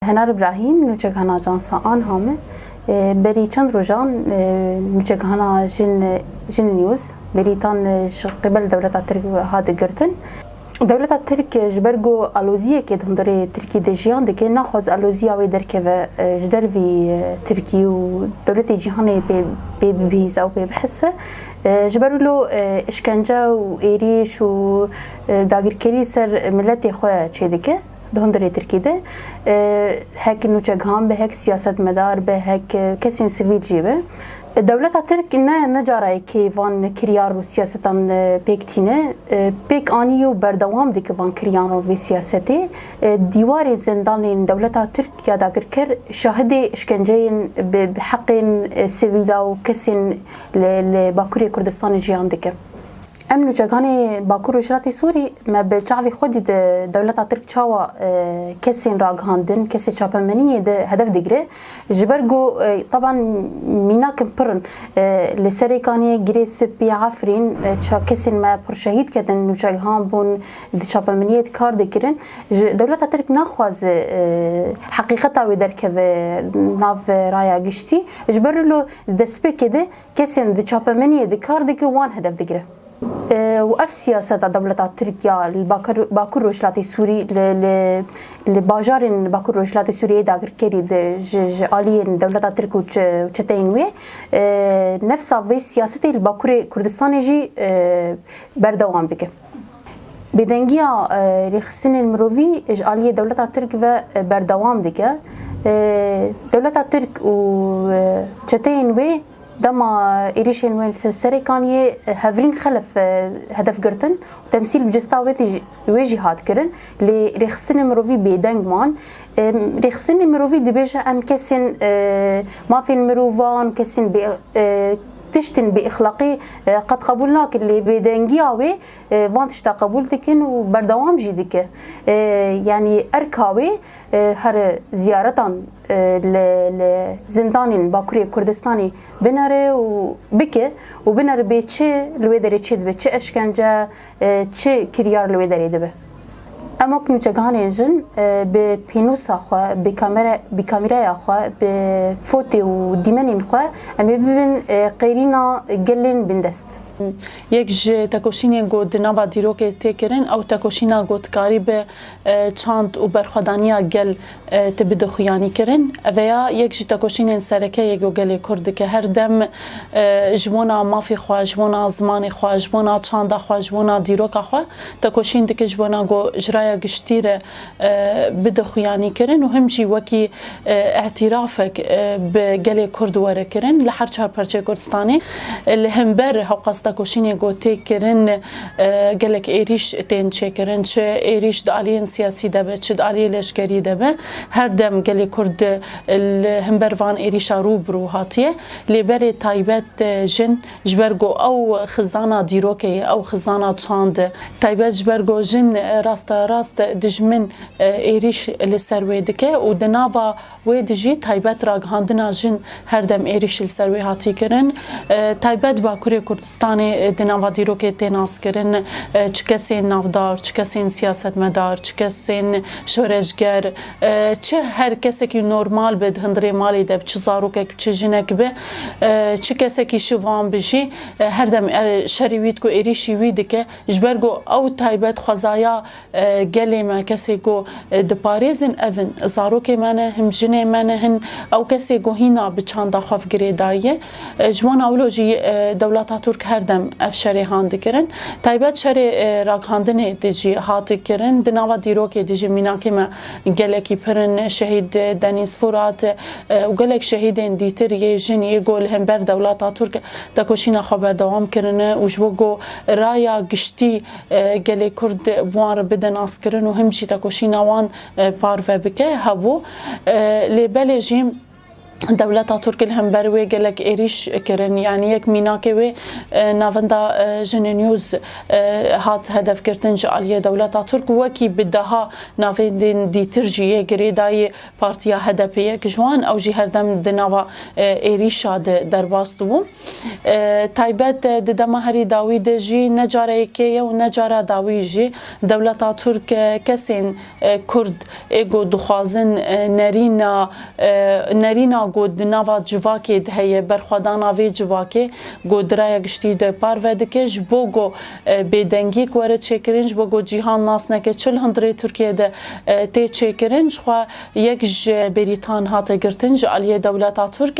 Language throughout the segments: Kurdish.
Henar Ibrahîm, nûçekhana Ajansa anha me berî çend rojan nûçekhana Jin Jin News berîtan ji qibel dewleta Tirk hate girtin. Dewleta Tirk ji ber ku aloziyekê di hundirê Tirkî de jiyan dike naxwaz aloziya wê derkeve ji dervî Tirkî û dewletê cîhanê pê pê bibihîze û pê bihesve. Ji ber wilo îşkence û êrîş û dagirkerî ser miletê xwe çêdike. Di hundirê Tirkî de hek nûçegihan be, hek siyasetmedar be, hek kesên sivîl jî be, dewleta Tirk ne ne cara yekê van kiryar û siyasetan pêk tîne. Pêk anî û berdewam dike van kiryan û vê siyasetê. Dîwarên zindanên dewleta Tirk ya dagirker şahidê îşkenceyên bi heqên sivîla û kesên li Bakurê Kurdistanê jiyan dikin. Em nûçekanê Bakur Rojhilatê Sûrî me bi çavê xwe dît dewleta Tirk çawa kesên ragihandin, kesê çapemeniyê di hedef digire. Ji ber ku taban mînakin pir in. Li Serêkanê, Girê Sipî, Efrîn kesên me pir şehîd ketin, nûçegihan bûn, di çapemeniyê de kar dikirin. Ji dewleta Tirk naxwaze heqîqeta wê derkeve nav raya giştî. Ji ber wilo di destpêkê de. Kesên di çapemeniyê de kar dike wan hedef digire. Û ev siyaseta dewleta Tirkiya li Bakur Rojhilatê Sûrî li bajarên li Bakur Rojhilatê Sûriyeyê dagirkerî di ji aliyên dewleta Tirk û çeteyên wê nefsa vê siyasetê li Bakurê Kurdistanê jî berdewam dike. Bêdengiya rêxistinên mirovî ji aliyê dewleta Tirk ve berdewam dike. Dewleta Tirk û çeteyên wê dema êrîşên wê li serê Kaniyê hevrîn xelef hedef girtin û temsîl bi cista wê jî hat kirin lê rêxistinên mirovî bêdeng man. Rêxistinên mirovî dibêje em kesên mafên mirovan û kesên Tiştên bêexlaqî qet qebûl nakin lê bêdengiya wê van tişta qebûl dikin û berdewam jî dike. Yanî erka wê here ziyaretan li li zindanên Bakurê Kurdistanê binere û bike û binere bê çi li wê derê çêdibe, çi eşkence, Çi kiryar li wê derê dibe? Emok nûçegihanên jin bi pênûsa xwe, bi kamîraya xwe, bi fotê û dîmenên xwe em ê bibin qêrîna gelên bindest. Yek ji tekoşînên ku di nava dîrokê tê kirin ew tekoşîna gotkarî bi çand û berxwedaniya gel Ti bi dixuyanî kirin. Veya yek ji tekoşînên sereke yê ku gelê Kurd dike her dem ji bona mafê xwe, ji bona zimanê xwe, ji bona çanda xwe, ji bona dîroka xwe tekoşîn dike ji bona ku ji raya giştî re bi dixuyanî kirin û him jî wekî îtîrafek bi gelê Kurd were kirin li her çar parçeyê Kurdistanê. Li himber hewqas tekoşînê ku tê kirin, Gelek êrîş tên çêkirin çi êrîş di aliyên siyasî de be çi di aliyê leşkerî de be her dem gelê Kurd li himber van êrîşa rû bi rû hatiye lê berê taybet jin ji ber ku ew xizana dîrokê ye ew xizana çand e taybet ji ber ku jin rasterast dijmin êrîş li ser wê dike û di nava Wê dijî taybet ragihandina jin her dem êrîş li ser wê hatî kirin. Taybet Bakurê Kurdistanê di nava dîrokê tê naskirin çi kesên navdar, çi kesên siyasetmedar, çi kesên şoreşger, çi her kesekî normal be di hundirê malê de bi çi zarokek bi çi jinek be, çi kesekî şivan bi jî her dem şerî wî dike û êrîşî wî dike. Ji ber ku ew taybet xwezaya. Gelê me kesê ku diparêzin ev in, zarokê me ne, him jinê me ne hin, ew kesê ku hîna bi çanda xwe vigirê daye. Ji wana wilo jî dewleta Turk her dem ev şerê han dikirin. Taybet şerê ragihandinê de jî hat kirin. Di nava dîrokê de jî mînakê me gelekî pir in. Şehîd Denîz Furat û gelek şehîdên dîtir yê jin yê ku li hember dewleta Turk tekoşîna xwe berdewam kirine û ji bo ku raya giştî gelê Kurd bi wan re bide naskirin û him jî tekoşîna wan parve bike hebû. Lê belê jî Dewleta Turk li hember wê gelek êrîş kirin yanî yek mînakê wê e, navenda e, Jine News e, hat hedefgirtin ji aliyê Dewleta Turk wekî bi deha navendên dîtir jî yê girêdayê partiya HDP'ye ki ji wan ew jî herdem di nava êrîşa de derbas dibûn. Taybet di dema herî dawî de jî ne careyekê ye û ne cara dawî jî dewleta Tirk kesên Kurd ê ku dixwazin nerîna nerîna ku di nava civakê de heye berxwedana vê civakê ku di raya giştî de parve dike ji bo ku bêdengiyek were çêkirin ji bo ku cîhan nas neke çi li hundirê Tirkiyeyê de tê çêkirin jixwe yek ji berîtan hate girtin ji aliyê dewleta Tirk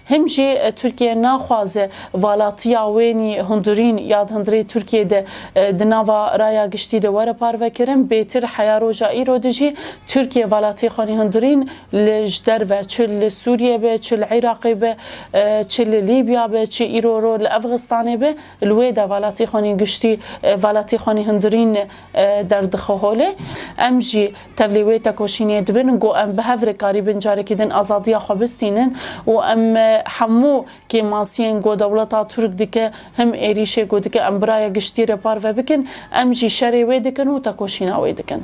Him jî Tirkiye naxwaze valatiya wênî hundirîn ya di hundirê Tirkiyê de di nava raya giştî de were parvekirin, bêtir heya roja îro de jî Tirkiye valatiyê xwenî hundirîn li ji derve çi li Sûriyê be, çi li Iraqê be, çi li Lîbya be, çi îro ro li Efxistanê be, Li wê de valatî xanî giştî, valatî xanî hundirîn derdixe holê. Em jî tevlî wê tekoşînê dibin ku em bi hev re karîbin carekî din azadiya xwe bistînin û em hemû kêmasiyên ku dewleta Tirk dike, him êrîşê ku dike em bi raya giştî re parve bikin, em jî şerê wê dikin û tekoşîna wê dikin.